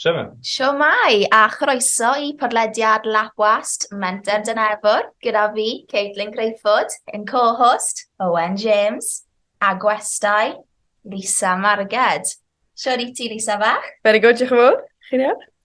Sioma. Siomai, a chroeso i podlediad Labwast Menter Dyn Efwr, gyda fi, Caitlin Crayford, yn co-host, Owen James, a gwestai, Lisa Marged. Siwr i ti, Lisa fach? Very good, diolch yn fawr. Chi'n iawn?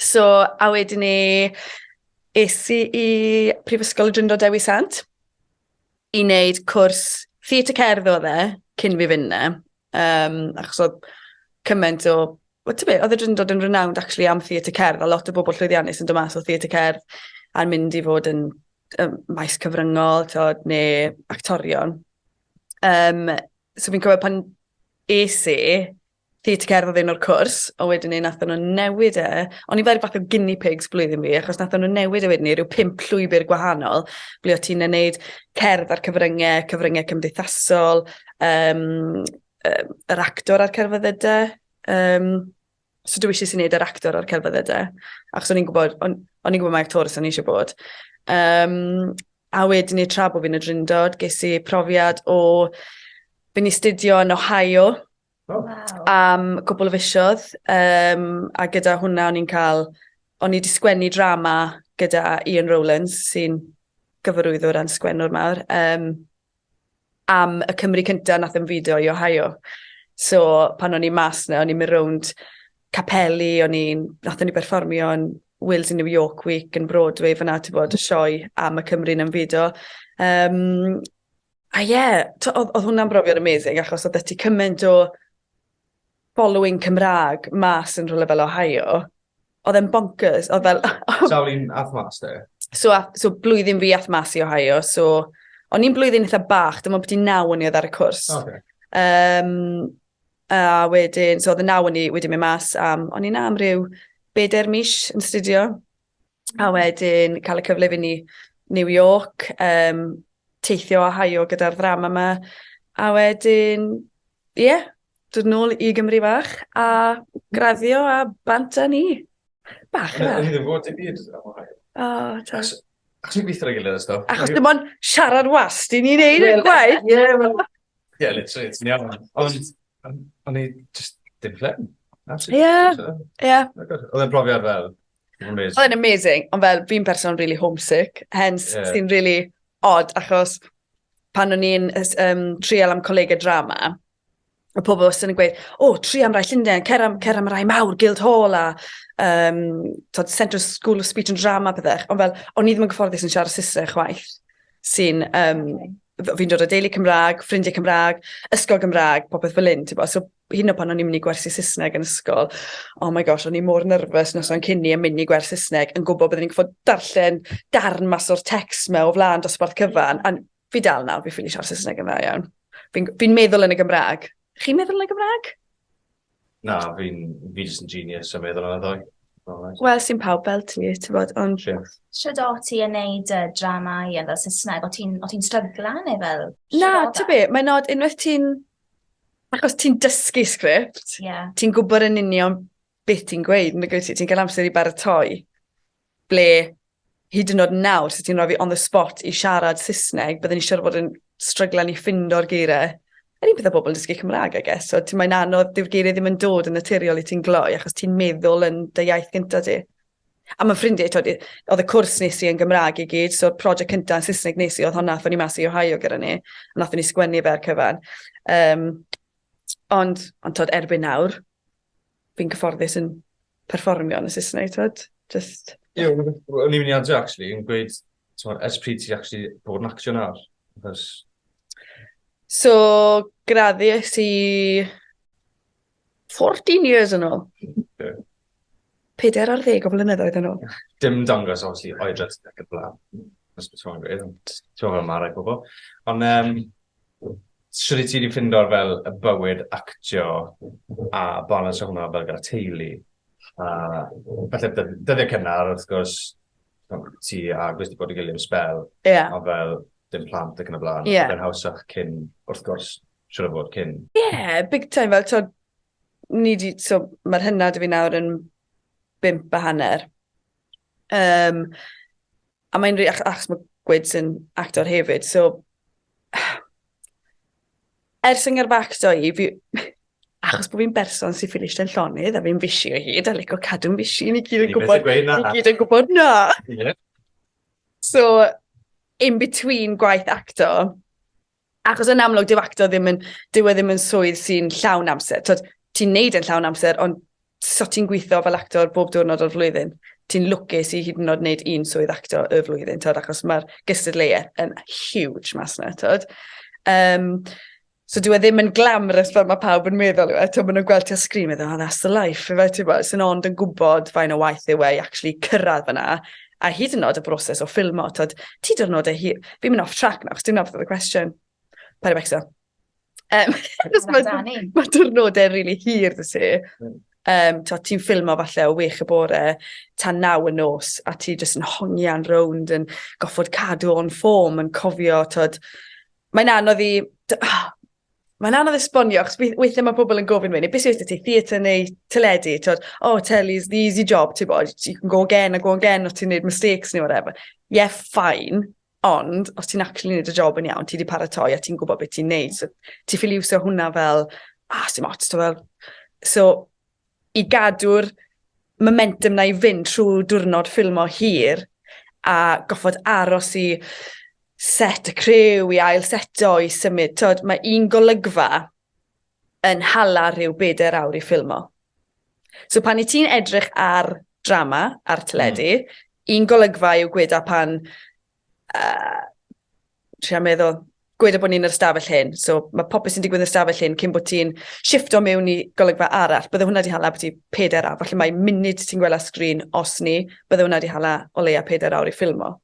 So, a wedyn ni, es i i Prifysgol y Drindod Dewi Sant i wneud cwrs theatr cerdd o dde cyn fi fynd na. Um, achos oedd cymaint o... Wel, ti'n beth, oedd y Drindod yn renowned actually am theatr cerdd, a lot o bobl llwyddiannus yn dod mas o theatr cerdd a'n mynd i fod yn um, maes cyfryngol, tod, neu actorion. Um, so fi'n cofio pan es i, theatr cerdd yn o'r cwrs, ond wedyn 'ny nathon nhw newid e. O'n i fel rhyw fath o guinea pigs blwyddyn fi, achos nathon nhw newid e wedyn 'ny ryw pump llwybr gwahanol, ble o' ti'n neud cerdd a'r cyfrynge, cyfrynge cymdeithasol, um, um, yr actor a'r cerfyddyde. Um, so dwi eisiau sy'n neud yr actor a'r cerfyddyde, achos o'n i'n gwybod, o'n, on i'n gwybod mae actores o'n i eisiau bod. Um, a wedyn ni tra bod fi'n y drindod, ges i profiad o... Fi'n i studio yn Ohio, Oh. Wow. am cwbl o fisoedd, um, a gyda hwnna o'n i'n cael, o'n i wedi sgwennu drama gyda Ian Rowlands, sy'n gyfarwyddwr a'n sgwennwr mawr, um, am y Cymru cyntaf nath yn fideo i Ohio. So, pan o'n i mas na, o'n i'n mynd rownd capeli, o'n i'n, nath o'n i berfformio yn Wales in New York Week yn Broadway, fyna ti bod y sioe am y Cymru yn fideo. Um, A ie, yeah, oedd, oedd hwnna'n brofiad amazing, achos oedd ti cymaint o following Cymraeg mas yn rhywle fel Ohio. Oedd e'n bonkers, oedd fel... Sawl un ath mas te? So, so blwyddyn fi ath mas i Ohio, so o'n i'n blwyddyn eitha bach, dyma beth i'n naw o'n i oedd ar y cwrs. Okay. Um, a wedyn, so oedd y naw o'n i wedi mynd mas am, o'n i'n am ryw bedair mis yn studio. a wedyn cael y cyfle i fynd i New York, um, teithio a haio gyda'r ddram yma, a wedyn, ie, yeah, dod nôl i Gymru fach a graddio a bant â ni. Bach yna. Ni ddim fod i byd am o hael. O, ta. Ac sy'n gweithio ar ei gilydd ysdo. Achos dim ond siarad wast i ni'n neud y gwaith. Ie, wel. Ie, literally, ti'n iawn. Ond, o'n i just dim fflem. Ie, ie. Oedd e'n brofiad fel, Amazing. Oedd e'n amazing, ond fel fi'n person really homesick, hence yeah. sy'n really odd, achos pan o'n i'n um, trial am colegau drama, y pobl wastad yn gweud, o, oh, tri am rai Llundain, cer am, cer am rai mawr, Guild Hall a um, tod, Central School of Speech and Drama, pethau. Ond fel, o'n i ddim yn gyfforddus yn siarad Saesneg chwaith, sy'n, um, fi'n dod o deulu Cymraeg, ffrindiau Cymraeg, ysgol Gymraeg, popeth fel un, ti'n So, hyn o pan o'n i'n mynd i gwersi Saesneg yn ysgol, oh my gosh, o'n i mor nyrfys nos o'n cynni yn mynd i gwers Saesneg yn gwybod byddwn i'n gwybod darllen darn mas o'r text me o flaen dosbarth cyfan. A fi dal nawr, fi ffili siarad Saesneg yn dda iawn. Fi'n fi meddwl yn y Gymraeg. Chi'n meddwl yn y Gymraeg? Na, fi'n fi jyst yn genius yn meddwl yn y ddwy. Wel, sy'n pawb fel ti, ti'n bod, ond... Sio do ti yn neud uh, dramau yn fel Saesneg? O ti'n ti strygla neu fel... Na, ti'n be, mae'n nod unwaith ti'n Achos ti'n dysgu sgript, yeah. ti'n gwybod yn union beth ti'n gweud, yn gweud ti'n cael amser i baratoi, ble hyd yn oed nawr, sut ti'n rhoi fi on the spot i siarad Saesneg, byddwn i'n siarad bod yn stryglan i ffind o'r geiriau. Yr un peth o bobl yn dysgu Cymraeg, I guess. So, ti'n mae'n anodd, dyw'r geiriau ddim yn dod yn naturiol i ti'n gloi, achos ti'n meddwl yn dy iaith gyntaf ti. A mae ffrindiau, tod, oedd y cwrs nes i yn Gymraeg i gyd, so'r prosiect cyntaf yn Saesneg nes i, oedd honna, athyn ni mas i Ohio gyda ni, a nathon ni sgwennu fe ar cyfan. Um, ond, ond tod, erbyn nawr, fi'n cyfforddus yn perfformio yn y Saesneg, tod, just... Ie, o'n i'n mynd i adre, actually, yn gweud, tod, ers pryd ti actually bod yn actio nawr? Achos... So, graddu ys i 14 years yn ôl. Ie. Peder ar ddeg o flynyddoedd yn ôl. Dim dangos, obviously, oedran sydd ac yn blaen. Os beth ti'n gwneud, ond ti'n fel marai pobl. Ond um, sydd ti wedi ffindo'r fel y bywyd actio a balans o hwnna fel gyda teulu? A falle dyddiau cynnar, wrth gwrs, ti a gwrs wedi bod yn gilydd am spel. Ie. Yeah. A fel dim plant ac yn y blaen. Ie. Yeah. Fe'n hawsach cyn, wrth gwrs, siŵr o fod cyn. Ie, big time fel t'od ni 'di so ma'r hynna 'da fi nawr yn bump a hanner. Yym a mae'n rhi- ach- achos ma' Gwyds yn actor hefyd so ers fy ngyrfacdo i fi achos bo' fi'n berson sy'n ffili eistedd yn llonydd a fi'n fishi o hyd a lico cadw'n fishi ni gyd yn Ni byth yn gwbod gweud na. ni gyd yn gwbod na. Ie. So in between gwaith acto Achos yn amlwg, dyw acto ddim yn, dyw e ddim yn swydd sy'n llawn amser. Tod, ti'n neud yn llawn amser, ond so ti'n gweithio fel actor bob diwrnod o'r flwyddyn. Ti'n lwcus i hyd yn oed wneud un swydd acto y flwyddyn, tod, achos mae'r gystadleuaeth yn huge mas na, tod. Um, so dwi e ddim yn glamrus fel mae pawb yn meddwl yw e. Tod, maen nhw'n gweld ti ar sgrin, meddwl, oh, that's the life. Fe, ti'n bod, sy'n ond yn gwybod fain o waith yw e i actually cyrraedd fyna. A hyd yn oed y broses o ffilmo, tyd, ti dyrnodau hi... Fi'n mynd off track nawr, chos dim nawr oedd y cwestiwn. Paid â becso. Um, mae dyrnodau rili really hir dy si. Mm um, ti'n ffilmo falle o wych y bore tan naw y nos a ti jyst yn hongian rownd yn goffod cadw o'n ffom yn cofio tod mae'n anodd i Mae'n anodd esbonio, achos weithiau mae pobl yn gofyn mynd, beth sydd wedi ti, theatr neu teledu, ti'n oh, tele's the easy job, ti'n bod, you can go again a go again, os ti'n neud mistakes neu whatever. Yeah, fine, ond os ti'n actually neud y job yn iawn, ti wedi paratoi a ti'n gwybod beth ti'n neud, so ti ffili iwsio hwnna fel, ah, sy'n ots, ti'n fel. So, i gadw'r momentum na i fynd trwy diwrnod ffilmo hir a goffod aros i set y crew i ail seto i symud t'od mae un golygfa yn hala rhyw bedair awr i ffilmo. So pan i ti'n edrych ar drama ar teledu mm. un golygfa yw gweda pan Uh, trio meddwl, gweda bod ni'n yr ystafell hyn, so mae popeth sy'n digwydd yn yr ystafell hyn cyn bod ti'n shifto mewn i golygfa arall. Bydde hwnna wedi hala bod ti peder awr, falle mae munud ti'n gwella sgrin os ni, bydde hwnna wedi hala o leia peder awr i ffilmo.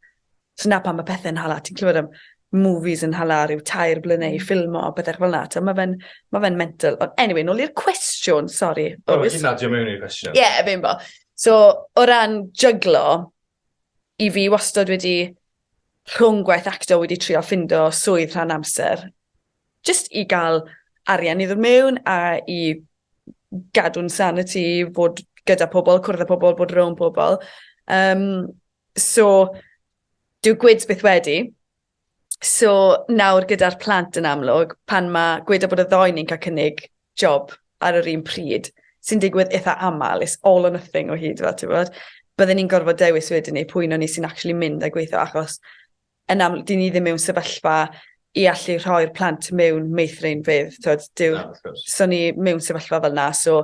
So na pan mae pethau'n hala, ti'n clywed am movies yn hala rhyw tair blynau i hmm. ffilmo, bethau fel na, so mae fe'n ma fe mental. Ond anyway, nôl i'r cwestiwn, sori. O, oh, ti'n nadio mewn i'r cwestiwn. Ie, yeah, fe'n bo. So, o ran jyglo, i fi wastad wedi rhwng gwaith acto wedi trio ffindo swydd rhan amser just i gael arian i ddod mewn a i gadw'n sanity, bod gyda pobl, cwrdd â pobl, bod rhwng pobl. Um, so, dyw gwids byth wedi, So, nawr gyda'r plant yn amlwg, pan mae gweda bod y ddoen ni'n cael cynnig job ar yr un pryd, sy'n digwydd eitha aml, it's all or nothing o hyd, fel ti'n bod, byddwn ni'n gorfod dewis wedyn ni pwy o'n ni sy'n actually mynd a gweithio, achos yn amlwg, dyn ni ddim mewn sefyllfa i allu rhoi'r plant mewn meithrinfeydd, ti'n bod, dyw, so ni mewn sefyllfa fel na, so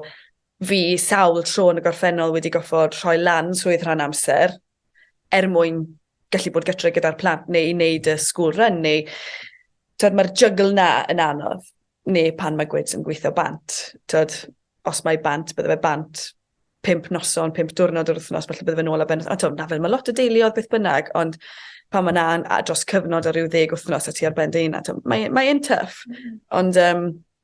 Fi sawl tro yn y gorffennol wedi goffod rhoi lan swydd rhan amser er mwyn gallu bod gytre gyda'r plant neu i wneud y school run neu tod, mae'r jygl na yn anodd neu pan mae gwyds yn gweithio bant. Tod, os mae bant, bydde fe bant pimp noson, pimp diwrnod yr wythnos, felly bydde fe'n ôl a ben. A tod, na fel mae lot o deuluodd beth bynnag, ond pan mae na'n dros cyfnod o ryw ddeg wythnos a ti ar ben dy hun, mae'n mae, mae tough. Mm. Ond um,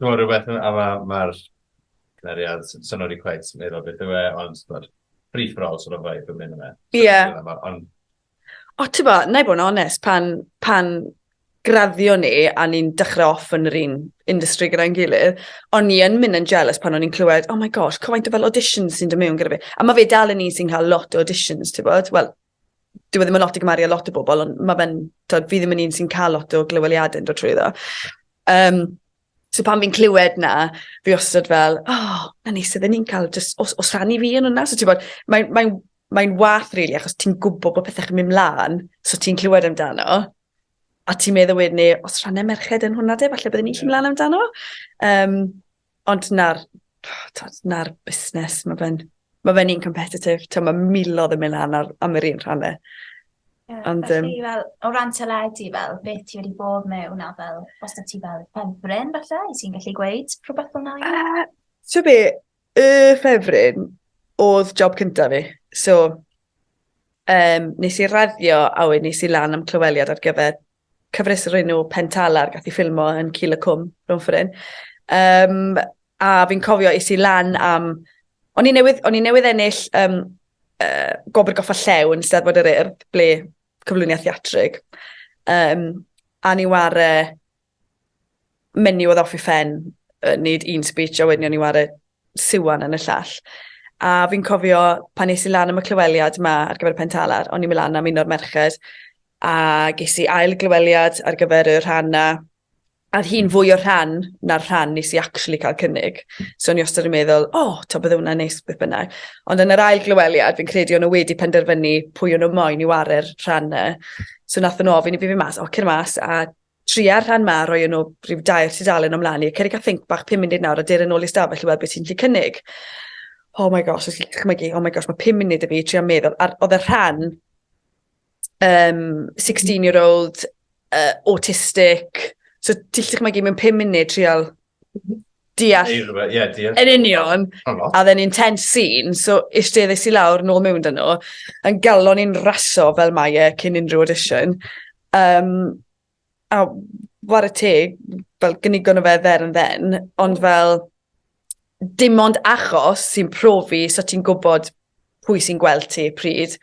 T'mo' rwbeth ma' a ma' ma'r cymeriad s- sai'n wedi cweit meddwl beth yw e ond t'mod free for all sort of vibe yn myn' yfe? Ie. On'... O t'bo' nâi bo' yn onest pan pan graddio ni a ni'n dechre off yn yr un industry gyda'n gilydd o'n i yn myn' yn jealous pan o'n i'n clywed oh my gosh cymaint o fel auditions sy'n do' mewn gyda fi a ma' fe dal yn un sy'n ca'l lot o auditions t'bod wel dyw e ddim yn lot i gymaru â lot o bobol ond ma' fe'n t'od fi ddim yn un sy'n ca'l lot o glyweliade'n dod trwyddo. Yym so pan fi'n clywed 'na fi wastod fel o 'na ni sud 'yn ni'n ca'l jys os os rhan ni fi yn wnna so t'bod mae mae'n mae'n wath rili achos ti'n gwbo bo' pethe'n myn' mlan so ti'n clywed amdano a ti'n meddwl wedyn 'ny os rhanne merched yn hwnna 'de falle bydden ni gallu myn' lan amdano. Yym. Ond na'r, tod, na'r busnes, mae fe'n ma fe un competitif, mae milodd yn mynd lan ar, am yr un rhan e. Yeah, Ond, um, fel, o ran teledu, fel, beth ti wedi bod mewn a fel, os da ti fel ffefryn, falle, i ti'n gallu gweud rhywbeth fel na? Uh, so be, y ffefryn oedd job cyntaf fi. So, um, nes i raddio a wedi nes i lan am clyweliad ar gyfer cyfres o'r enw Pentala, gath i ffilmo yn Cil y Cwm, rhwng ffyrun. Um, a fi'n cofio is i lan am... O'n i newydd, o'n i newydd ennill um, uh, gobr goffa llew yn Steddfod yr Urdd, ble cyflwyniad theatrig. Um, a ni ware menu oedd off ei phen, yy neud un speech a wedyn o'n i ware siwan yn y llall. A fi'n cofio pan nes i lan am y clyweliad 'ma ar gyfer y pen talar, o'n i'n mynd lan am un o'r merched a ges i ail glyweliad ar gyfer y rhan 'na a o'dd hi'n fwy o rhan na'r rhan nes i actually cael cynnig. So o'n i wastad yn meddwl o t'o' bydde wnna'n neis beth bynnag. Ond yn yr ail glyweliad fi'n credu o'n nw wedi penderfynu pwy o' nw moyn i ware'r rhan 'na. So nathon nw ofyn i fi fyn' mas o cer mas a tria'r rhan ma, roi yno rhyw dair tudalen ymlaen i, ceri cael think bach 5 munud nawr a dyr yn ôl i stafell i weld beth sy'n lle cynnig. Oh my gosh, os chi'n chmygu, oh my gosh, mae 5 munud y fi trio meddwl, ar, oedd y rhan um, 16 year old uh, autistic, so ti'n lle chmygu mewn 5 munud trial Deall. Neu rhywbeth, ie, yeah, deall. Yn union. A dden ni'n ten sîn, so eisteddes i lawr, nôl mewn dyn nhw, yn galon i'n raso fel mae e cyn unrhyw audition. Um, a war y teg, fel gynigon o fe dder yn dden, ond fel dim ond achos sy'n profi so ti'n gwybod pwy sy'n gweld ti pryd,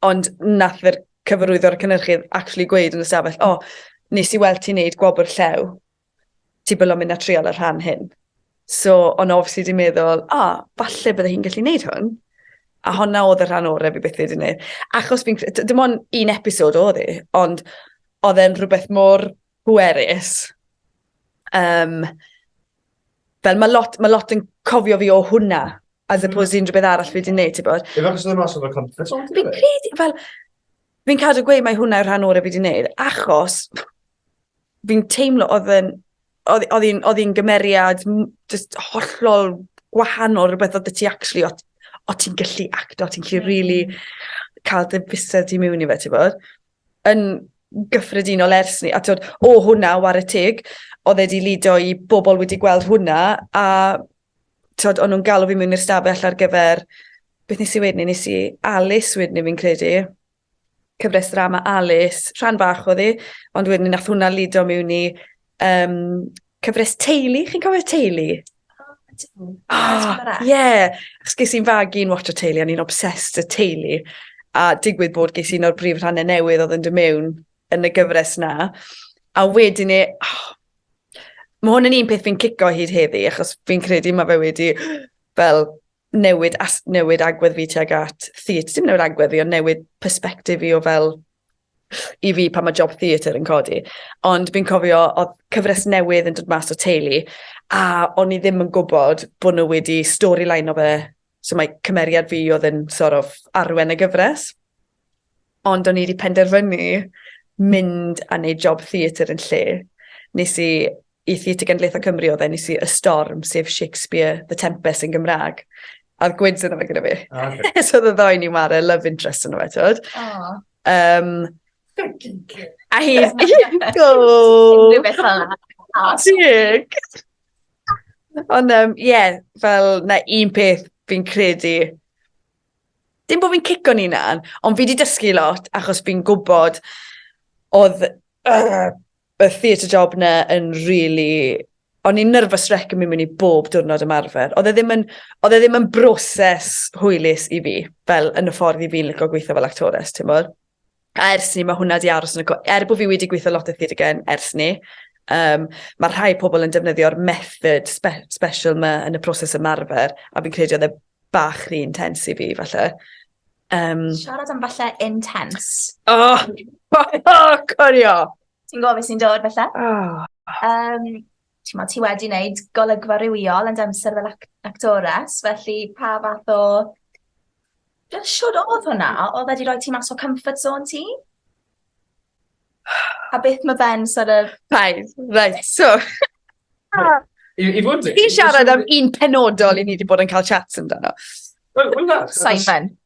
ond nath yr cyfarwyddwr y cynnyrchydd actually gweud yn y stafell, o, oh, nes i weld ti'n neud gwobr llew ti bil o mynd a trial y rhan hyn. So, ond obviously di meddwl, a, oh, falle bydde hi'n gallu neud hwn. A honna oedd y rhan orau fi beth wedi neud. Achos fi'n, dim ond un episod oedd hi, ond oedd e'n rhywbeth mor bwerus. Um, fel mae lot, ma lot yn cofio fi o hwnna, as mm. opposed i unrhyw beth arall fi wedi neud, ti bod. Ie, achos oedd e'n mas o'r confidence o'n ti? Fi'n credu, fel, fi'n cadw gweud mae hwnna yw'r rhan orau fi wedi neud, achos fi'n teimlo odd e'n odd odd 'i'n odd 'i'n gymeriad m- jyst hollol gwahanol rwbeth odd 'dy ti actually o' t- o' ti'n gallu acto o' ti'n gallu rili ca'l dy fysedd di miwn i fe t'bod? Yn gyffredinol ers 'ny a t'od o hwnna 'ware teg odd e 'di lido i bobol wedi gweld hwnna a t'od o'n nw'n galw fi mewn i'r stafell ar gyfer beth nes i weud 'ny nes i Alys wedyn 'ny fi'n credu. cyfres drama Alice, rhan fach oedd hi, ond wedyn nath hwnna lido mewn i um, cyfres teulu, chi'n cofio teulu? O, ah, ie. Achos ges i'n fag i'n watch o teulu, a ni'n obsessed y teulu. A digwydd bod ges i'n o'r brif rhannau newydd oedd yn dy mewn yn y gyfres na. A wedyn e, oh, mae hwn yn un peth fi'n cico hyd heddi, achos fi'n credu mae fe wedi fel newid, as, newid agwedd fi tuag at theatr. Dim newid agwedd fi, ond newid perspektif fi o fel i fi pan mae job theatr yn codi. Ond fi'n cofio, o cyfres newydd yn dod mas o teulu, a o'n i ddim yn gwybod bod nhw wedi storyline o fe. So mae cymeriad fi oedd yn sort of arwen y gyfres. Ond o'n i 'di penderfynu mynd a neud job theatr yn lle. Nes i i Theatr Genedlaethol Cymru oedd e, nes i Y Storm, sef Shakespeare, The Tempest yn Gymraeg. A oedd gwyds yna fe gyda fi. O, okay. so oedd y ddoi ni mare love interest yna fe, tywed. Oh. Um, a hi... Go! Unrhyw beth fel yna. Tig! Ond, um, ie, yeah, fel na un peth fi'n credu Dim bod fi'n cico'n unan, ond fi wedi dysgu lot achos fi'n gwybod oedd uh, y theatre job na yn really o'n i'n nervous wreck yn mynd mewn i bob diwrnod ymarfer. Oedd e ddim yn, oedd e ddim yn broses hwylus i fi, fel yn y ffordd i fi'n lygo gweithio fel actores, ti'n bod? A ers ni, mae hwnna di aros yn y... Er bod fi wedi gweithio lot o Thirgen ers ni, um, mae rhai pobl yn defnyddio'r method spe special ma yn y proses ymarfer, a fi'n credu oedd e bach rhy intense i fi, falle. Um, Siarad am falle intense. Oh, oh, oh corio! Ti'n gofio sy'n dod, falle? Oh. Um, Timod, ti wedi wneud golygfa rhywiol yn dy amser fel ac actores, felly pa fath o... Fel siwr oedd hwnna? Oedd wedi rhoi ti mas o comfort zone ti? A beth mae fe'n sort of... Paid, reit, so... I, i fod yn... Ti'n siarad am un penodol i ni wedi bod yn cael chats amdano. Wel, wel na. Simon.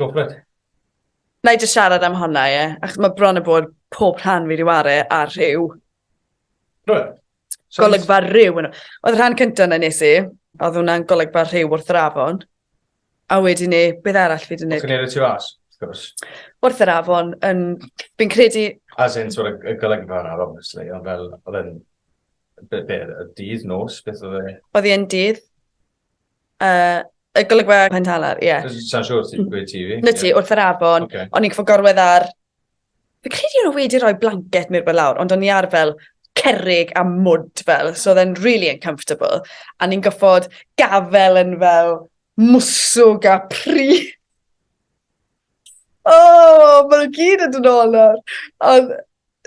Go for it. Wna i jyst siarad am honna, ie. Achos mae bron a bod pob rhan fi wedi wario ar rhyw. Rwy'n. So golygfa rhyw. Oedd rhan cyntaf na nes i, oedd hwnna'n golygfa rhyw wrth yr afon. A wedyn ni, beth arall fi wedi gwneud? Gwneud y tu fas, wrth gwrs. Wrth yr afon, yn... fi'n credu... As in, sort of, y golygfa yna, obviously, ond fel, oedd yn... Be, be, y dydd, nos, beth oedd e? Oedd e'n dydd. Uh, y golygfa Pen Talar, ie. Yeah. Sa'n siŵr ti'n gweud ti fi? Na ti, yeah. wrth yr afon. Okay. O'n i'n cyfo gorwedd ar... Fe credu o'n wedi rhoi blanket mi'r bod lawr, ond o'n i ar fel cerrig a mwd fel, so oedd e'n really uncomfortable. A ni'n goffod gafel yn fel mwswg a pri. O! Ma' nw gyd yn dod nôl nawr. Ond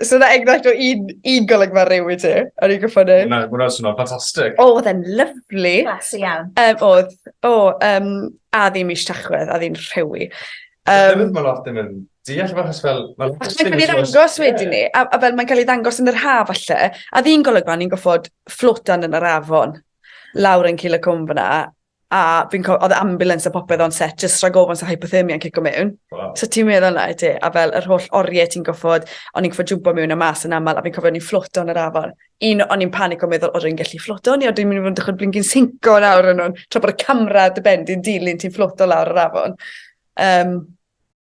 so 'na enghraifft o un un golygfa rhyw i ti o'n i'n gorffo neud. Ma' wnna ma' wnna'n swnio'n ffantastic. O odd e'n lyfli. Classy iawn. Yym odd. O yym a ddim mish Tachwedd a ddim rhewi. Yym. Hefyd ma' lot ddim yn deall efo achos fel ma' lot o things... Achos mae'n ca'l 'i ddangos wedyn 'ny a a fel mae'n ca'l 'i ddangos yn yr ha' falle a o'dd un golygfa o'n i'n goffod fflotio yn yr afon lawr yn Cul y Cwm fan 'na a fi'n cofio, oedd ambulance a popeth o'n set, just rhag ofon sa hypothermia yn cico mewn. Wow. So ti'n meddwl na i ti, a fel yr holl oriau ti'n goffod, o'n i'n goffod jwmpo mewn a mas yn aml, a fi'n cofio o'n i'n fflwto yn yr afon. Un, o'n i'n panic o meddwl, oedd rwy'n gallu fflwto, ni oedd dwi'n mynd i fod yn dechrau blingin sinco yn awr yn nhw'n, tra bod y camera dy ben di'n dilyn ti'n fflwto lawr yr afon. Um,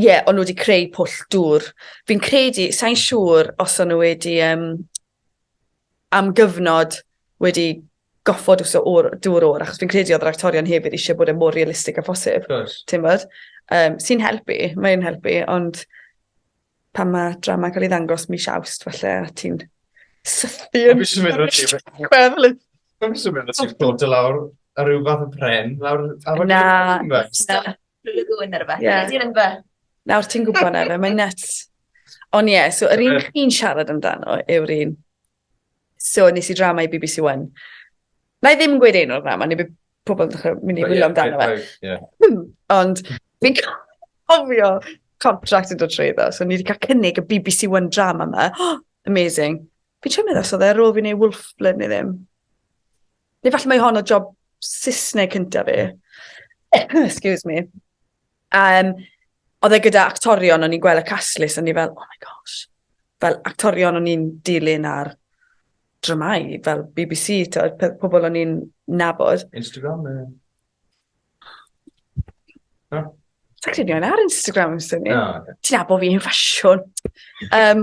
ie, yeah, o'n nhw wedi creu pwll dŵr. Fi'n credu, sa'n siŵr os o'n nhw wedi um, am gyfnod wedi goffod wso o'r dŵr o'r, achos fi'n credu oedd yr actorion hefyd eisiau bod yn e mor realistig a phosib. Ti'n bod? Um, Sy'n helpu, mae'n helpu, ond pan mae drama cael ei ddangos mis awst, falle, a ti'n sythu yn... Fi'n mynd o ti... Gweflu. Fi'n mynd o ti'n bod y lawr a rhyw fath o pren lawr... Na, na. Blue Lagoon neu rhywbeth. Yeah. Ti'n yngfa? Nawr ti'n gwybod na fe, mae'n nuts. Ond ie, yeah, so yr un chi'n siarad amdano yw'r un. So nes i drama i BBC One. Na i ddim yn gweud un o'r drama, neu bydd pobl yn dechrau mynd i wylio amdano fe. Hmm, ond fi'n cofio contract yn dod trwy iddo, so ni wedi cael cynnig y BBC One drama yma. Oh, amazing. Fi'n siarad meddwl, so dde, ar ôl fi'n ei Wolfblin neu ddim. Neu falle mae hon o job Saesneg cyntaf fi. Excuse me. Um, oedd e gyda actorion, o'n i'n gweld y cast list, o'n i fel, oh my gosh. Fel actorion o'n i'n dilyn ar dramau, fel BBC, to, pobl o'n i'n nabod. Instagram, e? No? Sa'n credu o'n ar Instagram, sy'n ni. No, okay. Ti'n abo fi yn ffasiwn. Um,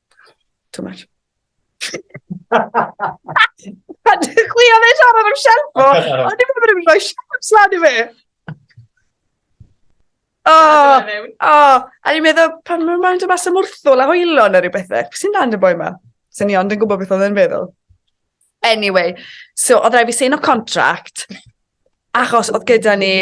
Too much. Chwi oedd e'n siarad am Shelfo. O'n i'n meddwl bod e'n rhoi siaps lan i fi. O, o, a ni'n meddwl, pan mae'n mynd mas am wrthwl a hwylo neu rhywbeth, beth sy'n dan y boi ma? Sa'n ni ond yn gwybod beth oedd e'n feddwl. Anyway, so oedd rhaid fi sign o contract, achos oedd gyda ni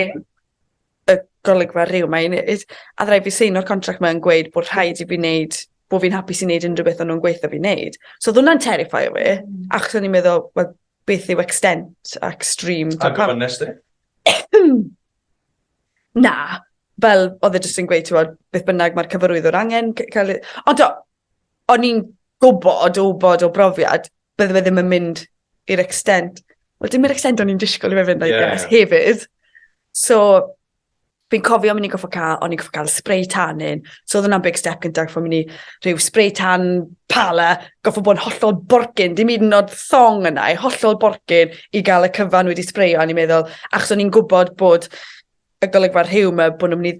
y golygfa rhyw mae'n neud, a oedd rhaid fi sign o'r contract mae'n gweud bod rhaid i fi wneud, bod fi'n hapus i wneud unrhyw beth o'n nhw'n gweithio fi wneud. So oedd hwnna'n terrifio fi, mm. achos o'n i'n meddwl, well, beth yw extent a extreme. A gofyn nes di? Na, fel oedd e jyst yn gweud, ti'n beth bynnag mae'r cyfarwyddwr angen cael ei... Ond do, o'n i'n gwbod o wbod o brofiad bydde fe ddim yn mynd i'r extent wel dim yr extent o'n i'n disgwl i fe fynd I guess hefyd. So fi'n cofio myn' i goffo ca'l o'n i'n goffo ca'l spray tanning so odd wnna'n big step gynta goffo myn' i rhyw spray tan parlour goffo bod yn hollol borgyn dim yd yn o'd thong yna i hollol borgyn i ga'l y cyfan wedi sbreio a o'n i'n meddwl achos o'n i'n gwbod bod y golygfa rhyw 'ma bo' n'w myn' i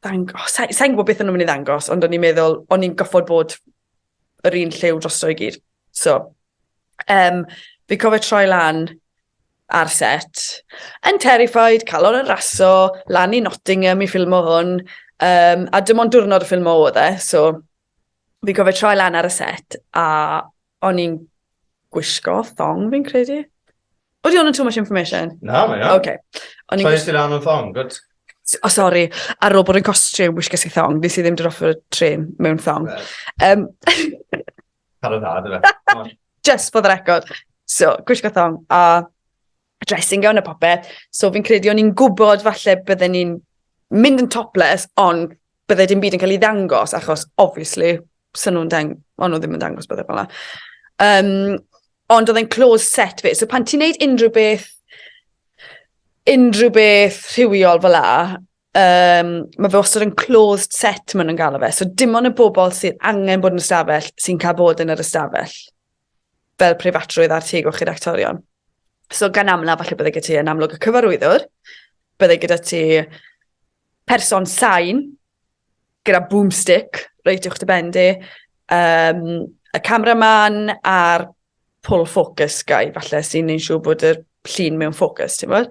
Thang... Oh, Sa'n sa gwybod beth o'n nhw'n mynd i ddangos, ond o'n i'n meddwl, o'n i'n goffod bod yr un lliw drosto i gyd. So, um, fi cofio troi lan ar set, yn terrified, calon yn raso, lan i Nottingham i ffilmo hwn, um, a dim ond diwrnod y ffilmo oedd e, so Fi'n cofio troi lan ar y set a o'n i'n gwisgo thong fi'n credu. Oedd i hwn yn too much information? Na, mae o. Okay. O'n i'n Troi gwisgo... ti lan yn thong, good. Oh, sorry, ar ôl bod yn costume, wisges i thong. Nes i ddim dod off y tren mewn thong. Um, Cael y dda, dy fe. Just for the record. So, gwisgo thong a dressing gown a popeth. So fi'n credu o'n i'n gwybod falle bydden ni'n mynd yn topless, ond bydde dim byd yn cael ei ddangos, achos obviously, sy'n nhw'n dang... o'n nhw ddim yn dangos bydde fel um, ond oedd e'n close set fi. So pan ti'n neud unrhyw beth, unrhyw beth rhywiol fel la, um, mae fe wastad yn closed set maen nhw'n galw fe. So dim ond y bobl sydd angen bod yn ystafell sy'n cael bod yn yr ystafell. fel preifatrwydd ar teg o'ch i'r actorion. So gan amla, falle bydde gyda ti yn amlwg y cyfarwyddwr, bydde gyda ti person sain gyda boomstick, reit uwch dy ben di, um, y cameraman a'r pull focus guy, falle sy'n ein siŵr bod y llun mewn ffocws, ti'n bod?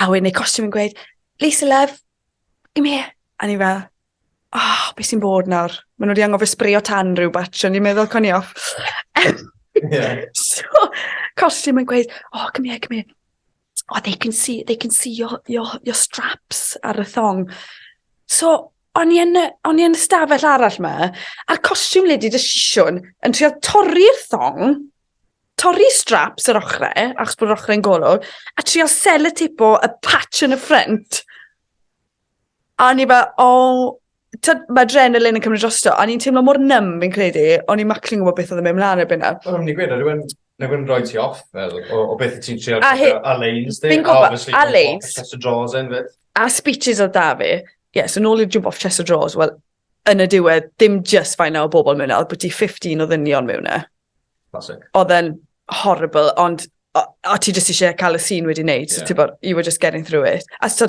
A wedyn ei costio fi'n gweud Lisa love, come here. A o'n i fel oh, be sy'n bod nawr? Maen nhw wedi anghofio sbrio tan rhyw batch, o'n i'n meddwl con i off. yeah. so, costume yn gweud, oh, come here, come here. Oh, they can see, they can see your, your, your straps ar y thong. So, o'n i yn, o'n i yn y stafell arall ma, a'r costume lady dy sisiwn yn trio torri'r thong, torri straps yr ochrau, achos bod yr ochrau'n golwg, a trial sellotapeio y patch yn y ffrant. A o'n i fel, o, oh, mae adrenalin yn cymryd drosto, a ni'n teimlo mor nym fi'n credu, o'n i'n maclu'n gwybod beth oedd yn mynd mlaen erbyn na. O'n i'n gwybod, rhywun Nag yn rhoi ti off, fel, o, o beth ti'n trial a he, Alain's di. Fi'n gwybod, Alain's. Chest of drawers yn fyd. A speeches oedd da fi. Ie, yeah, so nôl i'r jump off chest of drawers, wel, yn y diwedd, dim just faint o bobl mewn yna, oedd bod ti 15 o ddynion mewn yna. Classic. Oedd e'n horrible, ond a, a ti jyst eisiau cael y sîn wedi wneud, yeah. so bod, you were just getting through it. A so,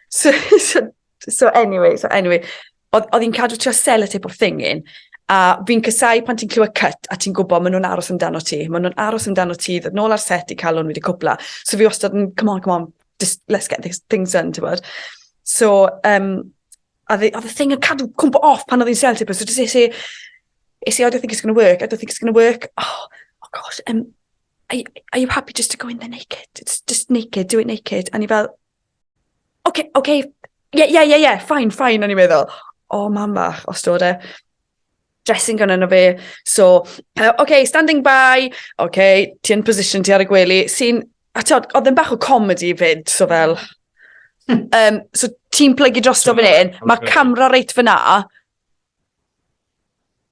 so, so, so anyway, so anyway, oedd hi'n cadw trio sell y tip o'r thing in, a fi'n cysau pan ti'n clywed cut a ti'n gwybod maen nhw'n aros amdano ti, maen nhw'n aros amdano ti, ddod nôl ar set i cael hwn wedi cwpla. So fi wastad yn, come on, come on, just let's get things done, ti'n bod. So, um, a oedd y thing yn cadw cwmpo off pan oedd hi'n sel ti, so just isi, isi, oh, I don't think it's going to work, I don't think it's going to work, oh, oh gosh, um, are, are you happy just to go in there naked? It's just naked, do it naked. A ni fel, okay, okay, yeah, yeah, yeah, yeah, fine, fine, o'n i'n meddwl. O, oh, mam bach, os dod e. dressing gown yno fe. So, uh, okay, standing by, okay, ti yn position ti ar y gwely, sy'n, a ti oedd yn bach o comedy fyd, so fel, um, so ti'n plygu dros drosto fan hyn, mae camera reit fyna,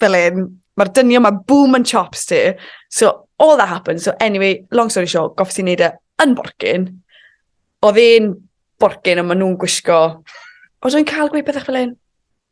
fel un, mae'r dynio, mae boom and chops ti. So, all that happened. So, anyway, long story short, goffes i'n neud e yn borgin. Oedd e'n borgin, ond maen nhw'n gwisgo... Oedd e'n cael gweud pethau fel un?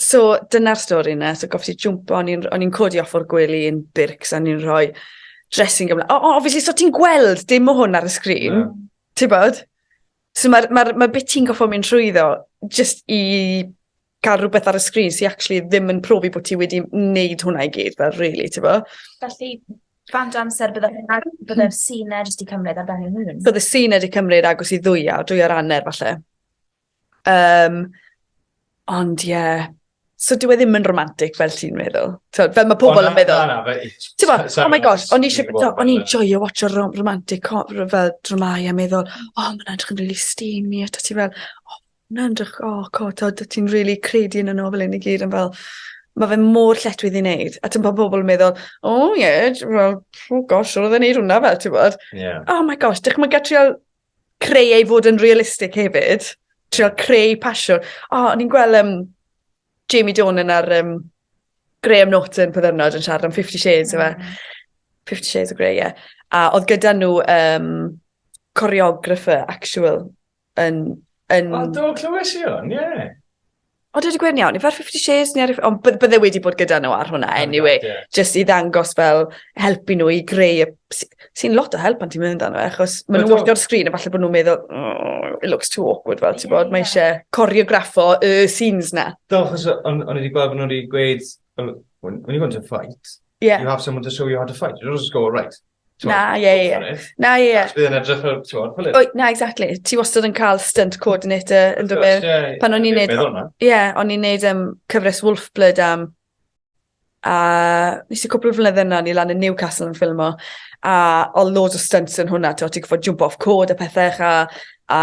So dyna'r stori yna, so goffi ti jwmpo, o'n i'n codi off o'r gwely yn bircs a ni'n rhoi dressing ymlaen. O, obviously, so ti'n gweld dim o hwn ar y sgrin, yeah. ti'n bod? So mae'r ma, ma bit ti'n goffi mynd trwyddo, just i cael rhywbeth ar y sgrin sy'n actually ddim yn profi bod ti wedi wneud hwnna i gyd, fel really, ti'n bod? Felly, Fan o amser byddai'r bydde sy'n jyst i cymryd ar ben ei hun? Byddai sy'n wedi cymryd agos i ddwyau, dwyau'r anner falle. Um, ond ie, yeah. so dwi e ddim yn romantic fel ti'n meddwl. So, fel mae pobl yn meddwl. Na, na, Ti'n bo, oh my gosh, o'n i'n joio watch o romantic fel dramau a meddwl, o, oh, mae'n edrych yn really steamy, a ti fel, o, oh, mae'n edrych, o, oh, co, ti'n really credu yn y nofel yn y gyd, yn fel, mae fe mor lletwydd i wneud. A ti'n pa pobl yn meddwl, o oh, ie, yeah, well, oh gosh, roedd e'n neud hwnna fel, ti'n bod. Yeah. Oh my gosh, dych chi'n gatriol creu ei fod yn realistig hefyd. Trio creu pasiwn. O, oh, ni'n gweld um, Jamie Donan ar um, Graham Norton podd ddyrnod yn siarad am 50 Shades, mm. efe. 50 Shades of Grey, ie. Yeah. A oedd gyda nhw um, choreographer actual yn... yn... O, do, clywes i hwn, ie. Yeah. O dwi 'di gweud yn iawn yfe ar fifty shades ne' ar yf-... Ond by- bydde wedi bod gyda n'w ar hwnna eniwe. Ar y card ie. Jyst i ddangos fel helpu n'w i greu y s- sy'n lot o help pan ti'n meddwl amdano fe achos ma' n'w wrthi ar y sgrin a falle bo' nw'n meddwl oh it looks too awkward fel t'bod mae isie coreograffo y scenes 'na. Do achos o- o'n o'n i 'di gweld bo' n'w 'di gweud fel when when you go into a fight... Ie. ...you have someone to show you how to fight you don't just go right Na, ie, ie. Na, ie, ie. Bydd yn edrych fel, ti'n gwybod, pwylid. Wyt, na, exactly. Ti wastad yn cael stunt coordinator yn dod mewn. Pan o'n i'n neud... Ie, o'n i'n neud um, cyfres Wolfblood am... A nes i cwpl o flynydde yna, ni lan yn Newcastle yn ffilmo. A o loads o stunts yn hwnna, ti'n ti'n gwybod, jump off cod a pethau, a, a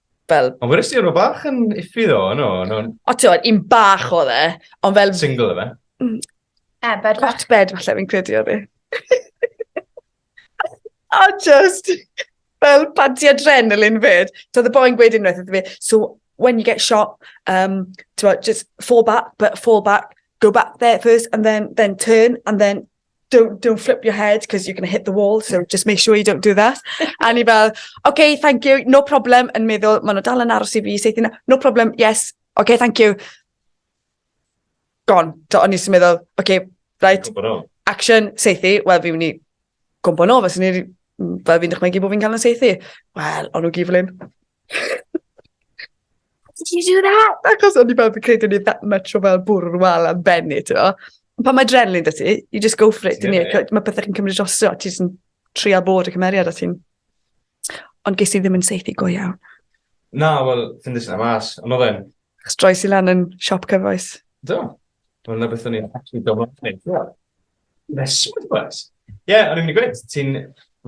fel... Ond wedys ti o'n bach yn iffi ddo, yno? No. O ti'n o'n un bach o dde, ond fel... Single efe? Mm. E, bed falle. Hot bed falle fi'n credu o dde. a just fel panti adrenalin fyd. So the boy'n gweud unwaith iddo fi, so when you get shot, um, just fall back, but fall back, go back there first, and then, then turn, and then don't, don't flip your head because you're going to hit the wall, so just make sure you don't do that. a ni fel, okay, thank you, no problem, yn meddwl, maen nhw dal yn aros i fi, seithi, no problem, yes, okay, thank you. Gone. Do, o'n i sy'n meddwl, okay, right, action, seithi, wel, fi wni gwmbo nôl, fes ni, fel fi'n dychmygu bod fi'n cael yn seithi. Wel, o'n nhw giflin. How did you do that? Achos o'n i fel fi'n credu o'n i that much o fel bwrw'r wal am benni, ti'n o. Pan mae adrenaline da ti, you just go for it, dyn ni. Mae pethau chi'n cymryd drosto, ti jyst yn trio bod y cymeriad a ti'n... Ond ges i ddim yn seithi go iawn. Na, wel, fi'n ddysyn am as. Ond oedd e'n... Achos droes i lan yn siop cyfoes. Do. Wel, na beth o'n i'n actually domlaen. Rheswm, wrth gwrs. Ie, o'n i'n mynd i gweud, ti'n,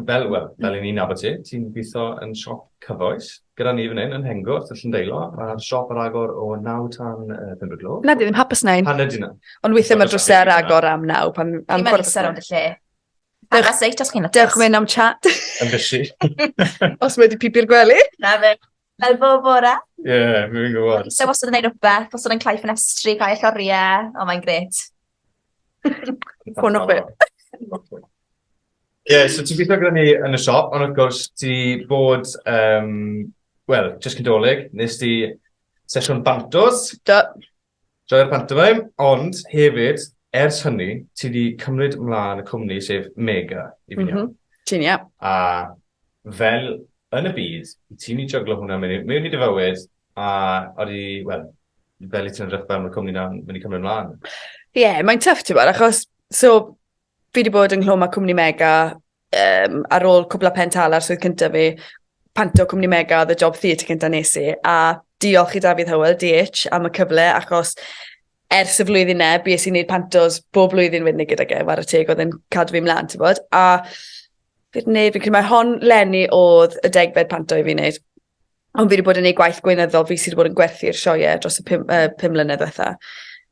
fel, wel, fel i ni'n nabod ti, ti'n gweithio yn siop cyfoes, gyda ni fan hyn yn Hengwrt, y Llyndeilo, mae'r siop ar agor o 9 tan uh, 5 o'r gloch. Na, di ddim hapus na un. Pan ydy na. Ond weithiau mae'r drwsau ar agor am 9, pan... Am Ti'n meddwl sef ond y lle. Dewch seit os chi'n lwcus. Dewch mynd am chat. Yn bysi. os mae wedi pipi'r gwely. Na fe. Fel bob bore. Ie, yeah, mi'n gwybod. Ise wastad yn neud rhywbeth, os yn cael ffenestri, cael lloriau, o mae'n gret. Fwn o beth. Ie, so ti'n gweithio gyda ni yn y siop, ond wrth gwrs ti bod, um, wel, jyst cydolig, nes ti sesiwn bantos. Do, Joio'r pantomeim, ond hefyd, ers hynny, ti wedi cymryd mlaen y cwmni, sef Mega, i fi'n iawn? Mhm, ti'n iawn. A fel yn y byd, i ti'n mynd i jyglo hwnna mewn mewn i dy fywyd, a odi, wel, fel i ti'n edrych fel mae'r cwmni 'na'n mynd i cymryd mlaen? Ie, mae'n tough ti'n gwybod, achos, so, Fi wedi bod yng Nghlwm a Cwmni Mega um, ar ôl cwbl o pen tal ar swydd cyntaf fi. Panto Cwmni Mega oedd y job theatr cyntaf nes i. A diolch i Dafydd Hywel, DH, am y cyfle achos ers y flwyddyn ne, bues i'n gwneud pantos bob blwyddyn wedyn gyda ge, war y teg oedd yn cadw fi mlaen, ti'n bod. A fi'n gwneud, fi'n credu mae hon lenni oedd y degfed panto i fi'n gwneud. Ond fi wedi bod yn ei gwaith gweinyddol, fi sydd wedi bod yn gwerthu'r sioiau dros y pum, uh, pum mlynedd diwetha.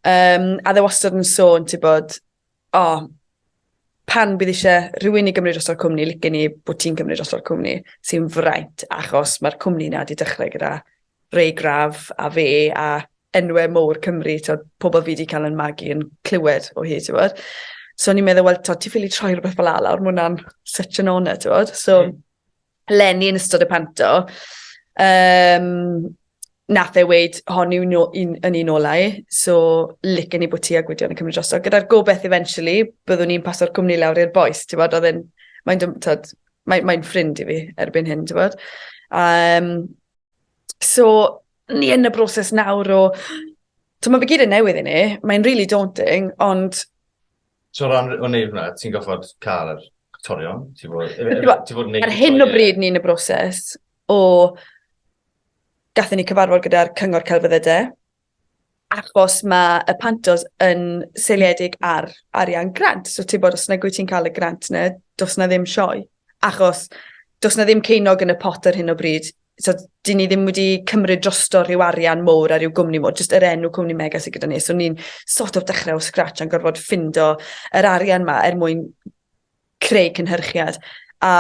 Um, a dde wastad yn sôn, ti'n bod, o, pan bydd eisiau rhywun i gymryd droso'r cwmni, licen ni bod ti'n cymryd droso'r cwmni, sy'n fraint, achos mae'r cwmni yna wedi dechrau gyda Ray Graf a fe a enwau mowr Cymru, to, pobl fi wedi cael yn magu yn clywed o hyd, ti'n bod. So ni'n meddwl, wel, to, ti ffili troi rhywbeth fel ala, mae hwnna'n such an honour, ti'n bod. So, mm. Lenny yn ystod y panto. Um, nath e weid, hon yw'n un, yn un olau, so licen i bod ti a Gwydion yn cymryd drosto. Gyda'r gobeth eventually, byddwn ni'n paso'r cwmni lawr i'r boes, ti'n bod, oedd e'n, mae'n dymtod, mae'n mae ffrind i fi erbyn hyn, ti'n bod. Um, so, ni yn y broses nawr o, ti'n bod, fe gyd yn newydd i ni, mae'n really daunting, ond So ran o wneud hwnna, ti'n goffod cael yr actorion, ti'n fod, ti fod yn neud... Ar hyn o bryd ni'n y broses o... Gathen ni cyfarfod gyda'r cyngor celfyddyde, achos mae y pantos yn seiliedig ar arian grant. So ti'n bod, os na gwy ti'n cael y grant yna, dos na ddim sioe. Achos dos na ddim ceinog yn y pot ar hyn o bryd so, dyn ni ddim wedi cymryd drosto rhyw arian mowr a rhyw gwmni mowr, jyst yr enw cwmni mega sydd gyda ni. So ni'n sort of dechrau o scratch a'n gorfod ffindo yr arian ma er mwyn creu cynhyrchiad. A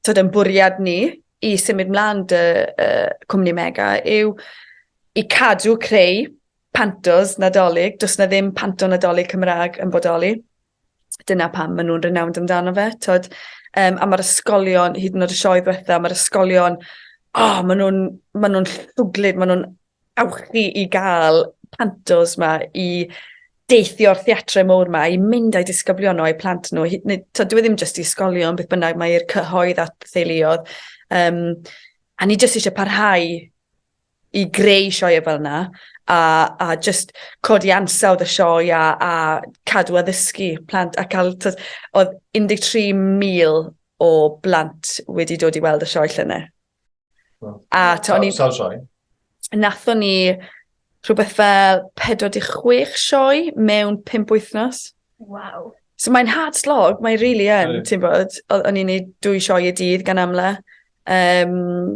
tyd yn bwriad ni i symud mlaen dy uh, cwmni mega yw i cadw creu pantos nadolig. Does na ddim panto nadolig Cymraeg yn bodoli. dyna pam ma' nw'n renowned amdano fe t'od yym a ma'r ysgolion hyd yn o'd y sioe ddwetha ma'r ysgolion o ma' nw'n ma' nw'n llwglyd ma' nw'n awchu i ga'l pantos 'ma i deithio'r theatre mowr 'ma i mynd â'u disgyblion nhw a'u plant nhw hyd neu t'od dyw e ddim jyst i ysgolion beth bynnag mae i'r cyhoedd at theuluodd yym a ni jyst isie parhau i greu sioe fel yna a a jyst codi ansawdd y sioe a a cadw addysgu plant a ca'l t'od odd 13,000 o blant wedi dod i weld y sioe llynedd. Wow. A t'o' o'n i... Sawl sioe? Nathon ni rhywbeth fel 46 sioe mewn 5 wythnos. Wow. So mae'n hard slog, mae'n rili yn, ti'n bod, o'n i'n neud dwy sioe y dydd gan amla. Um,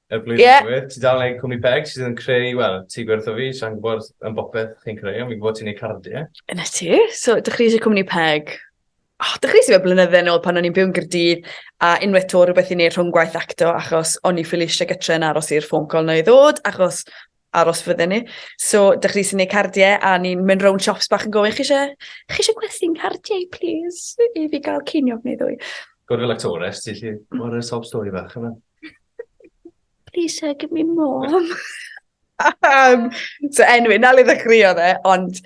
Er blwyddyn yeah. diwedd, ti dal yn gwneud cwmni peg sydd yn creu, wel, ti gwertho fi, sa'n gwybod yn bopeth chi'n creu, ond fi'n gwybod ti'n gwneud cardiau. Yna ti, so dechreuais i cwmni peg. Oh, dechreuais i fe blynydde yn ôl pan o'n i'n byw'n gyrdydd, a unwaith to rhywbeth i wneud rhwng gwaith acto achos o'n i ffili eisiau gytre yn aros i'r ffôn col na i ddod achos aros fydden ni. So, dych chi sy'n gwneud cardiau a ni'n mynd rown shops bach yn gofyn, chi eisiau, chi eisiau gwerthu'n cardiau, please, i fi gael ceiniog neu ddwy. Gwrdd fel actores, ti chi, o'r sob stori fach yma. Please, sir, give me more. um, so, anyway, na le ddechreuodd e, ond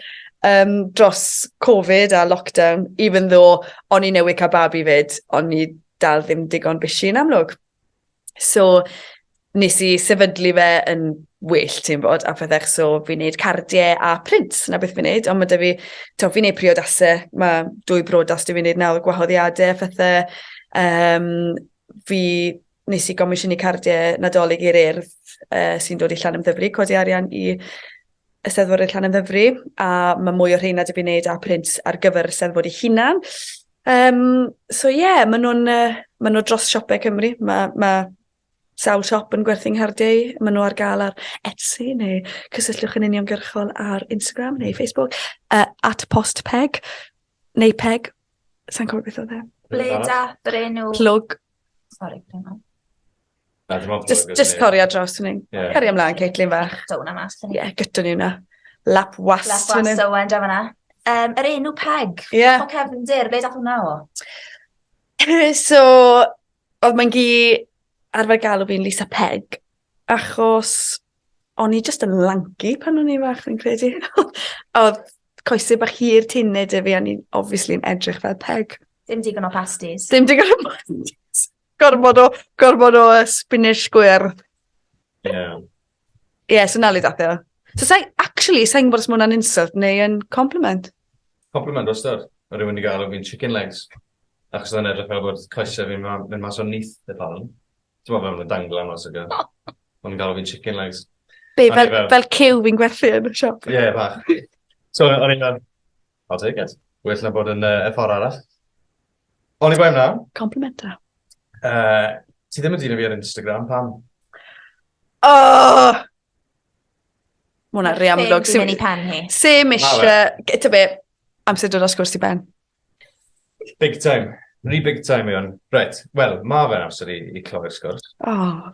um, dros Covid a lockdown, even though o'n i newydd cael babi fyd, o'n i dal ddim digon busy yn amlwg. So, nes i sefydlu fe yn well, ti'n bod, a pethau, so fi'n neud cardiau a print, na beth fi'n neud, ond mae da fi, to, fi'n neud priodasau, mae dwy brodas dwi fi'n neud nawr, gwahoddiadau a phethau, um, fi nes i gomisiynu cardiau nadolig i'r urdd uh, sy'n dod i llan ymddyfri, codi arian i Eisteddfod yn Llanymddyfri, a mae mwy o rheina wedi gwneud â print ar gyfer y Eisteddfod ei hunan. Um, so ie, yeah, maen nhw'n uh, ma nhw dros siopau Cymru. Mae ma sawl siop yn gwerthu nghardiau. Maen nhw ar gael ar Etsy neu cysylltwch yn uniongyrchol ar Instagram neu Facebook uh, at postpeg neu peg. Sa'n cofio beth oedd e. Bleda, Brenu. Plwg. Sorry, Brenu. Na dim ond... Jyst jyst torri o dros fan 'yn. Ie. Caria mlan Caitlyn fach. Dau wnna mas fyn 'yn. Ie gyda ni wnna. Lap was... Lap was da ŵan draw fan 'na. Yym yr enw Peg. Ie. Hoff o cefndir be' dath wnna o? Yy so odd mae'n gi arfer galw fi'n Lisa Peg achos o'n i jyst yn lanci pan o'n i'n fach fi'n credu. A odd coese bach hir tinne 'da fi a o'n i'n obviously'n edrych fel peg. Dim digon o pastis. Dim digon o pastis. Gormod o, gormod o uh, spinach gwyr. Ie. Yeah. Ie, yeah, so na le dath e. So sa'i, actually, sa'i'n gwybod os mae hwnna'n insult neu yn compliment. Compliment, os dod. Mae rhywun wedi gael o fi'n chicken legs. Achos yna'n edrych fel bod coesau fi'n mynd mas o'n nith y palwn. Ti'n meddwl fel yn dangl am os ygo. Mae'n gael o fi'n chicken legs. Be, fel, fel, fel cyw fi'n gwerthu yn y siop? Ie, yeah, bach. So, o'n i'n fel, I'll take it. Well na bod yn uh, y ffordd arall. Oni bai na. Complimenta. Uh, ti ddim yn dyn o fi ar Instagram, pam? Oh! Mae hwnna rei amlwg. Sim yn ei pen hi. Sim eisiau... Gyda be, amser dod os gwrs ti ben. Big time. Rhi big time yw hwn. Right, wel, mae fe'n amser i, i cloi'r sgwrs. Oh.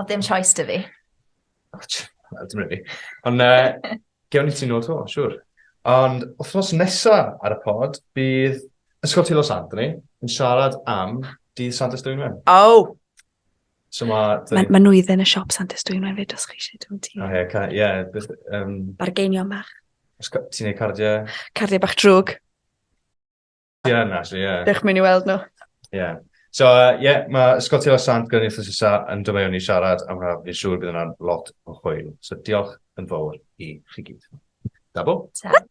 Oedd dim choice dy fi. Oh, well, dim really. Ond uh, gewn ni ti nôl to, siwr. Ond wythnos nesa ar y pod, bydd Ysgol Tilo Santoni yn siarad am dydd Sant Ystwynwen. Oh! So mae... Mae ma nhw i ddyn y siop Sant Ystwynwen fyd os chi eisiau dwi'n ti. O, oh, ie, yeah, yeah, um... Bargeinion bach. Ti'n ei cardiau? Cardiau bach drwg. Ie, na, so ie. Dych mynd i weld nhw. Ie. So, ie, uh, yeah, mae Ysgol Tilo Sant gyda'n eithaf sysa yn dymaio ni siarad am rhaid fi'n siŵr bydd yna'n lot o hwyl. So, diolch yn fawr i chi gyd. Da bo? Ta.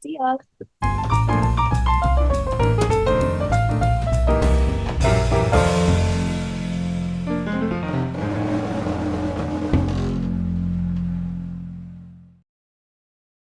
Diolch.